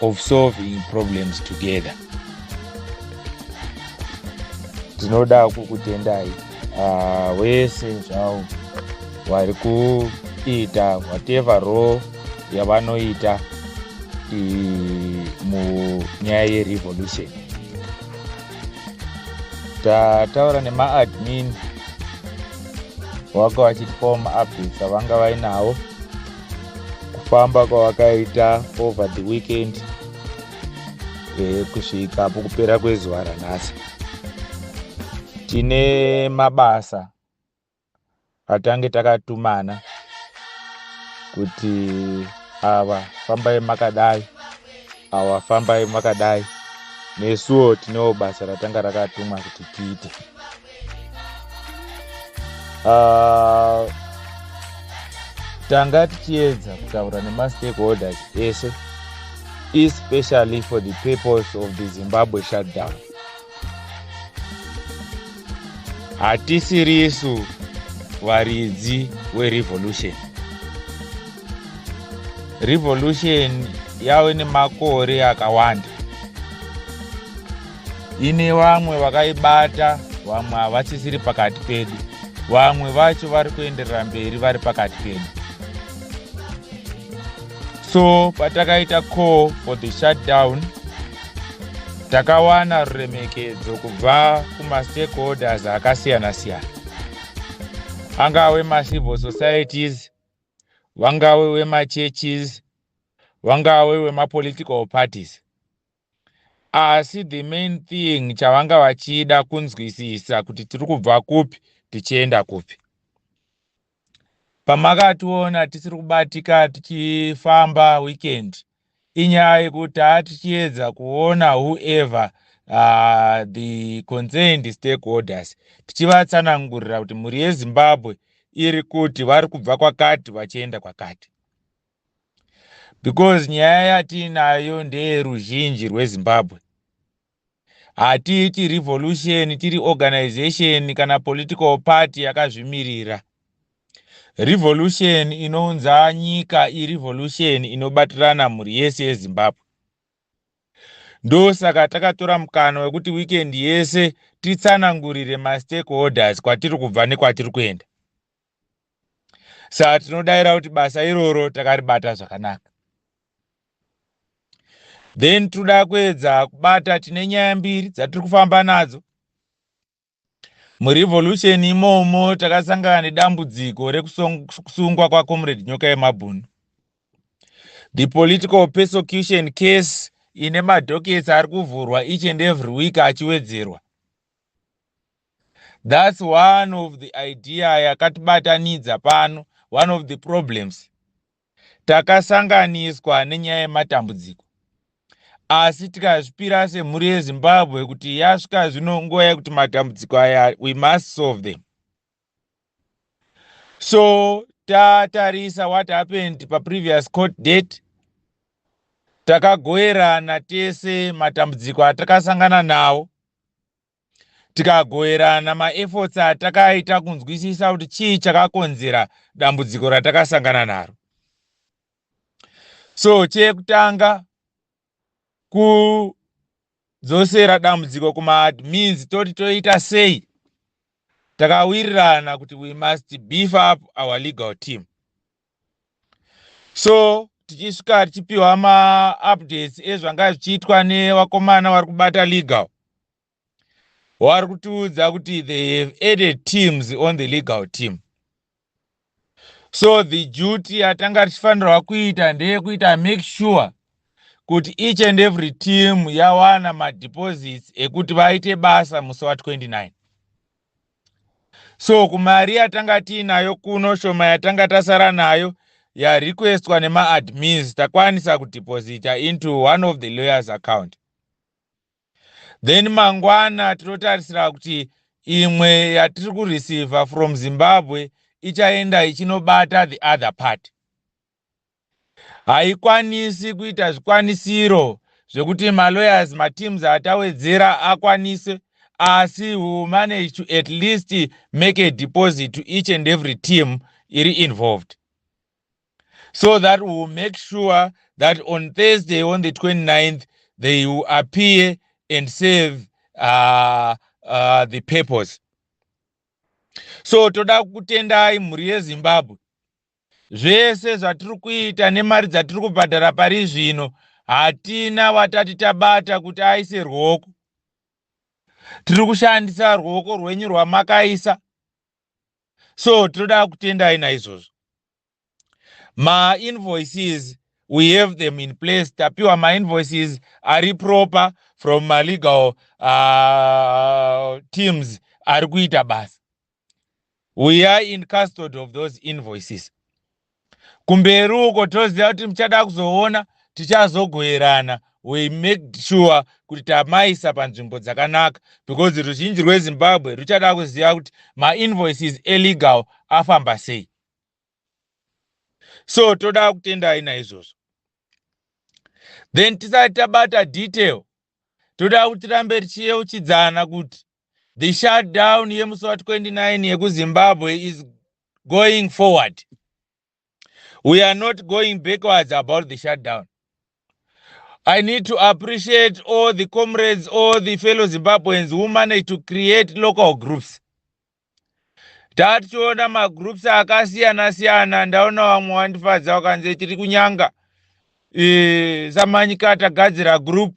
of solving problems together tinoda kukutendai ah, wese zvawo vari kuita whatever role yavanoita munyaya yerevolution tataura nemaadmin waka vachitipawo maupdates avanga vainawo kufamba kwawakaita over the weekend eh, kusvika apo kupera kwezuva ranhasi tine mabasa atange takatumana kuti ava fambai makadai ava fambai makadai nesuwo tinewo basa ratanga rakatumwa kuti tiite uh, tanga tichiedza kutaura nemastakeholders ese especially for the purpose of the zimbabwe shutdown hatisirisu varidzi werevolution revolution yave nemakore akawanda ine vamwe vakaibata vamwe havasisiri pakati pedu vamwe vacho vari kuenderera mberi vari pakati pedu so patakaita call for the shutdown takawana ruremekedzo kubva kumastakeholders akasiyana siyana angave macivil societies vangave wemachurches vangave wemapolitical parties asi the main thing chavanga vachida kunzwisisa kuti tiri kubva kupi tichienda kupi pamakationa tisiri kubatika tichifamba weekend inyaya yekuti taa tichiedza kuona whoever uh, the concerned stakeholders tichivatsanangurira kuti mhuri yezimbabwe iri kuti vari kubva kwakati vachienda kwakati because nyaya yatiinayo ndeyeruzhinji rwezimbabwe hatiiti revolution tiri organization kana political party yakazvimirira revolution inounza nyika irevolution inobatirana mhuri yese yezimbabwe ndosaka takatora mukana wekuti weekend yese titsanangurire mastakeholders kwatiri kubva nekwatiri kuenda saka tinodaira kuti basa iroro takaribata zvakanaka then tinoda kuedza kubata tine nyaya mbiri dzatiri kufamba nadzo murevolution imomo takasangana nedambudziko rekusungwa kwacomrade nyoka yemabhunu the political persecution case ine madokets ari kuvhurwa each and every week achiwedzerwa That's one of the idea yakatibatanidza pano, one of the problems. Takasanganiswa nenyaya yematambudziko. Asi tikazvipira semhuri yeZimbabwe kuti yasvika zvino nguva yekuti matambudziko aya we must solve them. So tatarisa what happened paprevious court date takagoerana tese matambudziko atakasangana nawo tikagoverana maefforts atakaita kunzwisisa kuti chii chakakonzera dambudziko ratakasangana naro so chekutanga kudzosera dambudziko kumaadmins toti toita sei takawirirana kuti we must beef up our legal team so tichisvika tichipiwa maupdates ezvanga zvichiitwa nevakomana vari kubata legal vari kutiudza kuti they have added teams on the legal team so the duty yatanga tichifanirwa kuita ndeyekuita make sure kuti each and every team yawana madeposits ekuti vaite basa musi wa 29 so kumari yatanga tiinayo kuno shoma yatanga tasara nayo yarequestwa nemaadmins takwanisa kudeposita into one of the lawyers account then mangwana tinotarisira kuti imwe yatiri kureceiva from zimbabwe ichaenda ichinobata the other party haikwanisi kuita zvikwanisiro zvekuti malawyers mateams atawedzera akwanise asi we will manage to at least make a deposit to each and every team iri involved so that we will make sure that on thursday on the 29th they will appear and serve uh, uh, the purpose so toda kutendai mhuri yezimbabwe Zvese zvatiri kuita nemari dzatiri kubhadhara pari zvino hatina watati tabata kuti aise ruoko. Tiri kushandisa ruoko rwenyu rwamakaisa. So tinoda kutendai naizvozvo. Ma invoices we have them in place tapiwa ma invoices ari proper from ma legal uh, teams ari kuita basa. we are in custody of those invoices kumberi uko toziva kuti muchada kuzoona tichazogoerana we make sure kuti tamaisa panzvimbo dzakanaka because ruzhinji rwezimbabwe ruchada kuziva kuti mainvoices elegal afamba sei so toda kutendai naizvozvo then tisati tabata detail toda kuti rambe tichiyeuchidzana kuti the shutdown yemusi wa 29 yekuzimbabwe is going forward we are not going backwards about the shutdown i need to appreciate all the comrades all the fellow zimbabweans who managed to create local groups tationa magroups akasiyana siyana ndaona vamwe wandifadza wakanzi tiri kunyanga e, samanyika tagadzira group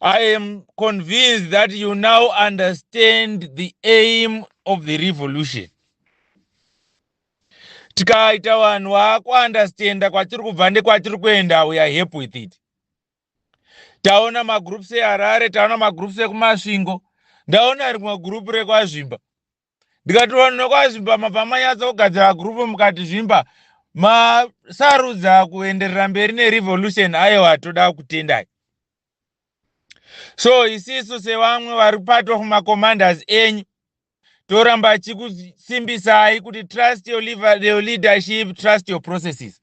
I am convinced that you now understand the aim of the revolution. Tikaita vanhu vakuunderstanda kwatiri kubva nekwatiri kuenda we are happy with it. Taona magroups eHarare, taona magroups ekuMasvingo, ndaona rimwe group rekwaZvimba. ndikati vanhu nokwazvimba mabva manyatsa kugadzira gurupu mukati zvimba masarudza kuenderera mberi nerevolution aiwa toda kutendai so isisu sevamwe vari part of macommanders enyu toramba chikusimbisai kuti trust your, liver, your leadership trust your processes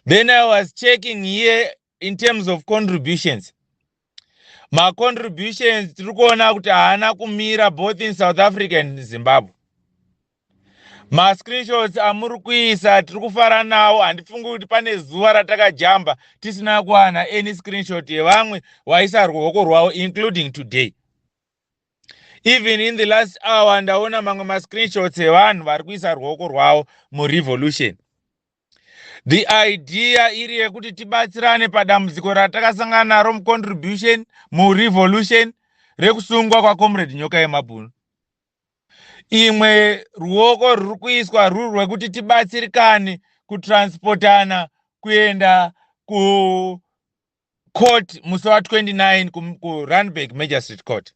then i was checking here in terms of contributions macontributions tiri kuona kuti haana kumira both in south africa and zimbabwe mascreenshots amuri kuisa tiri kufara nawo handifungi kuti pane zuva ratakajamba tisina kuwana any screenshot yevamwe waisa ruoko rwavo including today even in the last hour ndaona mamwe mascreenshots evanhu vari kuisa ruoko rwavo murevolution the idea iri yekuti tibatsirane padambudziko ratakasangana naro mucontribution murevolution rekusungwa kwacomrade nyoka yemabhunu imwe ruoko rwuri kuiswa ruri rwekuti tibatsirikane kutransportana kuenda kucourt musi wa 29 kurunback magistrate court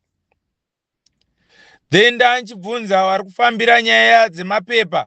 then ndanchibvunza vari kufambira nyaya dzemapepa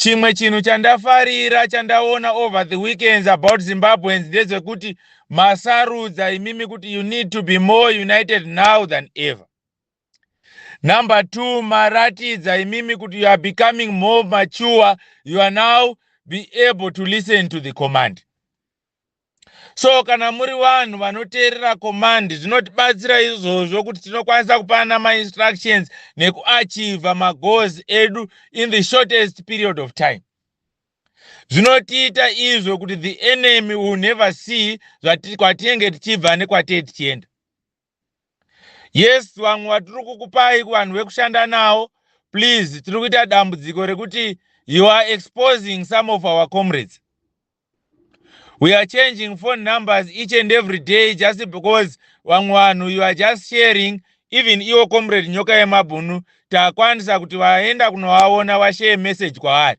chimwe chinhu chandafarira chandaona over the weekends about zimbabweans ndezvekuti masarudza imimi kuti you need to be more united now than ever number two maratidza imimi kuti you are becoming more mature you are now be able to listen to the command so kana muri vanhu vanoteerera command zvinotibatsira izvozvo kuti tinokwanisa kupana mainstructions nekuachiva magoals edu in the shortest period of time zvinotiita izvo kuti the enemy will never see zvatinenge tichibva nekwatee tichienda yes vamwe vatiri kukupai kuvanhu vekushanda nawo please tiri kuita dambudziko rekuti you are exposing some of our comrades we are changing phone numbers each and every day just because vamwe vanhu you are just sharing even iwo comrade nyoka yemabhunu takwanisa kuti vaenda kunovaona vashare message kwaari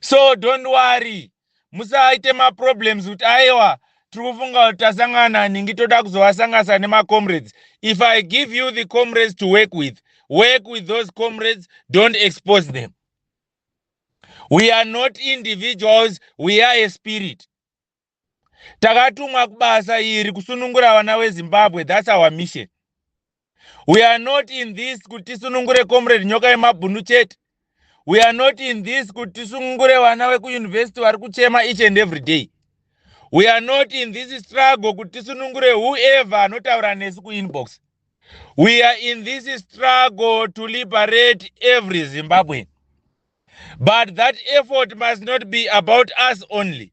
so don't worry musaite maproblems kuti aiwa tiri kufunga kuti tasangana ningi toda kuzovasanganisa nemacomrades if i give you the comrades to work with work with those comrades don't expose them we are not individuals we are a spirit takatumwa kubasa iri kusunungura vana wezimbabwe thats our mission we are not in this kuti tisunungure comrade nyoka yemabhunu chete we are not in this kuti tisunungure vana vekuyunivhesiti vari kuchema each and every day we are not in this struggle kuti tisunungure whoever anotaura nesu kuinbox we are in this struggle to liberate every zimbabwean but that effort must not be about us only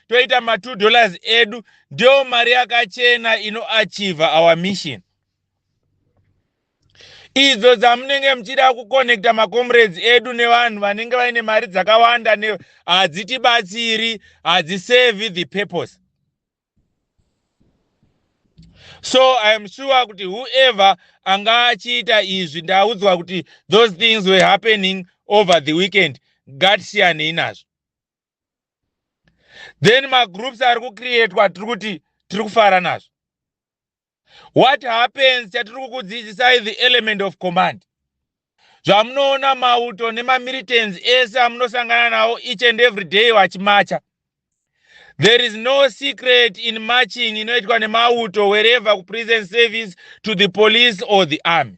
toita ma 2 dollars edu ndiyo mari yakachena inoachiva our mission idzo dzamunenge muchida kuconnecta macomrades edu nevanhu vanenge vaine mari dzakawanda hadzitibatsiri hadziserve the purpose so i am sure kuti whoever anga achiita izvi ndaudzwa kuti those things were happening over the weekend ngatisiyanei nazvo then magroups ari kucreatwa tiri kuti tiri kufara nazvo what happens chatiri kukudzidzisai the element of command zvamunoona mauto nemamilitans ese amunosangana nawo each and every day vachimacha there is no secret in marching inoitwa nemauto wherever kuprison service to the police or the army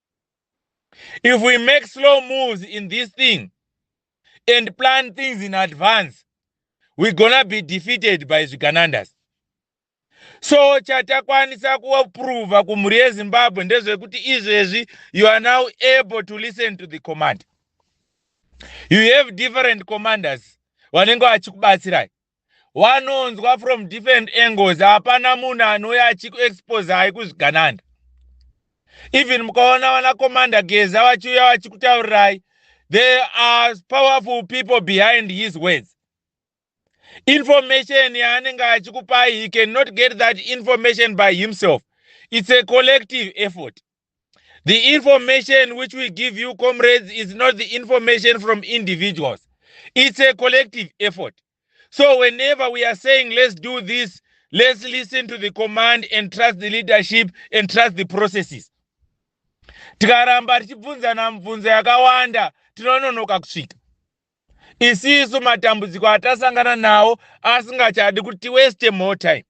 If we make slow moves in this thing and plan things in advance, we're gonna be defeated by Zviganandas. So chatakwanisa kuaprova kumhuri yeZimbabwe ndezvekuti izvezvi you are now able to listen to the command. You have different commanders vanenge vachikubatsirai. wanonzwa from different angles hapana munhu anouya achikuexposai kuzvigananda even mukaona vana commander geza vachiuya vachikutaurirai there are powerful people behind his words information yaanenge achikupai he cannot get that information by himself it's a collective effort The information which we give you, comrades, is not the information from individuals. It's a collective effort. So whenever we are saying, let's do this, let's listen to the command and trust the leadership and trust the processes. tikaramba tichibvunzana mibvunzo yakawanda tinononoka kusvika isisu matambudziko atasangana nawo asingachadi kuti tiweste more time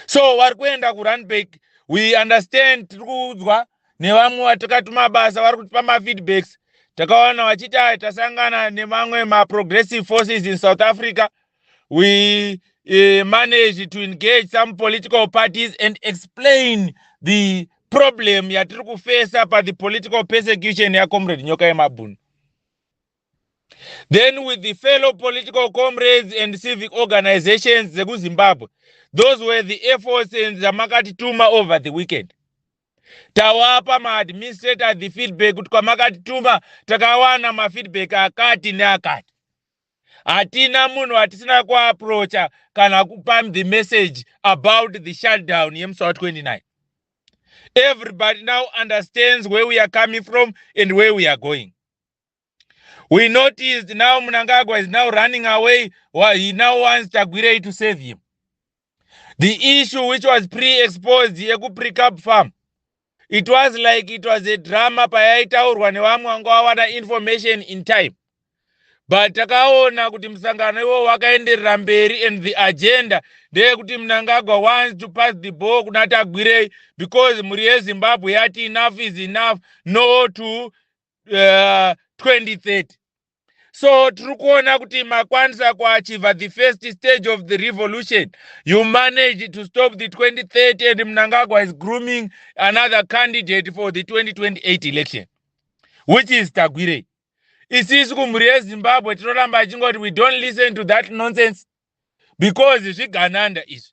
so vari kuenda kurunback we understand tiri kuudzwa nevamwe vatikati mabasa vari kutipa mafeedbacks takawana vachiti aya tasangana nemamwe maprogressive forces in south africa we uh, manage to engage some political parties and explain the problem yatiri kufesa pathe political persecution yacomrade nyoka yemabhunu then with the fellow political comrades and civic organizations dzekuzimbabwe those were the efforts and zvamakatituma over the weekend tawapa maadministrator the feedback kuti kwamakatituma takawana mafeedback akati neakati hatina munhu atisina kuaprocha kana kupa the message about the shutdown yemusi wa 29 everybody now understands where we are coming from and where we are going We noticed now Mnangagwa is now running away. Well, he now wants Chagwirei to save him. The issue which was pre-exposed yeku pre-cab farm it was like it was a drama payaitaurwa nevamwe vanga vawana information in time but takaona kuti musangano iwowo wakaenderera mberi and the agenda ndeyekuti mnangagwa wants to pass the ball kuna tagwirei because mhuri yezimbabwe yati enough is enough no to uh, 2030 so tiri kuona kuti makwanisa kuachiva the first stage of the revolution you manage to stop the 2030 and mnangagwa is grooming another candidate for the 2028 election which is tagwirei isisu kumhuri yezimbabwe tinoramba achingoti we don't listen to that nonsense because zvigananda izvi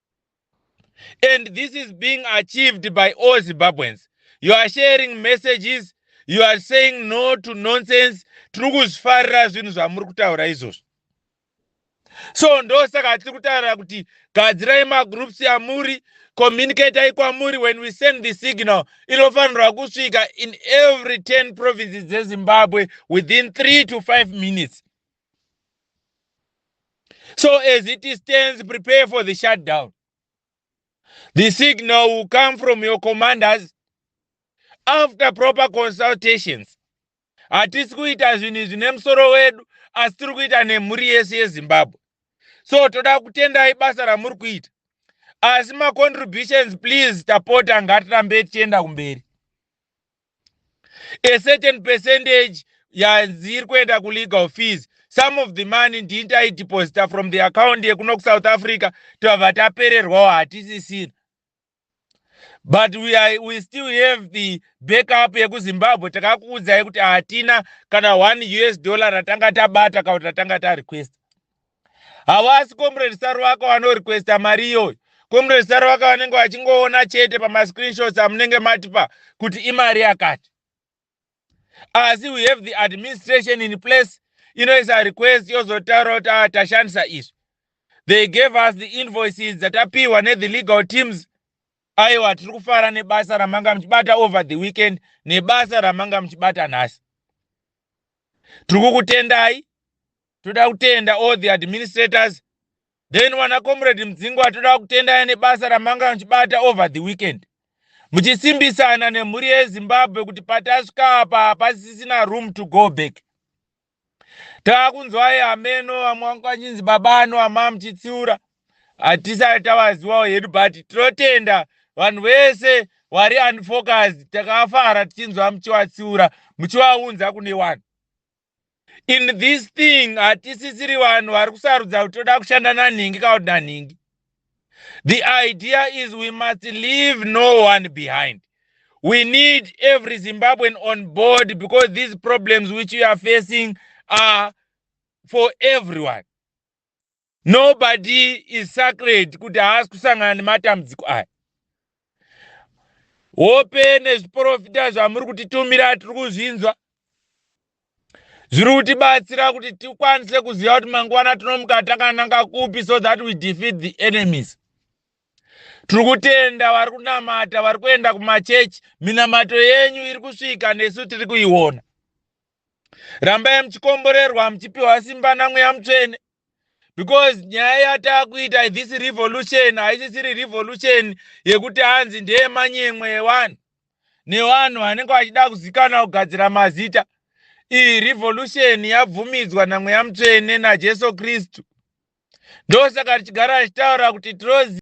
and this is being achieved by all zimbabweans you are sharing messages you are saying no to nonsense tiri kuzvifarira zvinhu zvamuri kutaura izvozvo so ndosaka tiri kutaura kuti gadzirai magroups amuri communicatai kwamuri when we send the signal inofanirwa kusvika in every 10 provinces dzezimbabwe within 3 to 5 minutes So as it stands, prepare for the shutdown. The signal will come from your commanders after proper consultations. Hatisi kuita zvinhu izvi nemusoro wedu, asi tiri kuita nemhuri yese yeZimbabwe. So toda kutendai basa ramuri kuita. Asi macontributions please tapota ngatirambe tichienda kumberi. a certain percentage yadziri kuenda kulegal fees some of the money ndini taideposita from the account yekuno kusouth africa tabva tapererwawo hatisisina but we, are, we still have the backup yekuzimbabwe takakuudzai kuti hatina kana one us dollar ratanga tabata kana kuti ratanga tarequesta hawasi comrade saruvaka wanorequesta mari iyoyo comrade saruvaka vanenge vachingoona chete pamascreenshots amunenge matipa kuti imari yakati asi we have the administration in place inoisa request yozotaura kuti ah, tashandisa izvi they gave us the invoices dzatapiwa nethe legal teams aiwa tiri kufara nebasa ramanga muchibata over the weekend nebasa ramanga muchibata nhasi tiri kukutendai toda kutenda all the administrators then wana comrade mudzingwa toda kutendai nebasa ramanga muchibata over the weekend muchisimbisana nemhuri yezimbabwe kuti patasvika apa hapasisina room to go back taakunzwai hameno vamwe vanga vachinzi baba ano ama muchitsiura hatisati tavaziwawo hedu but tinotenda vanhu vese wari unfocused takafara tichinzwa muchivatsiura muchivaunza kune wani in this thing hatisisiri vanhu vari kusarudza kuti toda kushanda nanhingi kana kuti nanhingi the idea is we must leave no one behind we need every zimbabwean on board because these problems which we are facing are for everyone nobody is sacred kuti haasi kusangana nematambudziko aya hope nezviprofita zvamuri kutitumira tiri kuzvinzwa zviri kutibatsira kuti tikwanise kuziva kuti mangwana tinomuka takananga kupi so that we defeat the enemies tiri kutenda vari kunamata vari kuenda kumachechi minamato yenyu iri kusvika nesu tiri kuiona rambai muchikomborerwa muchipiwa simba namweya mutsvene because nyaya yatakuita this revolution haisisiri revolution yekuti hanzi ndeyemanyemwe yewanhu newanhu vanenge vachida kuzikana kugadzira mazita iyi revolution yabvumidzwa namweya mutsvene najesu kristu ndosaka tichigara tichitaura kuti tirozi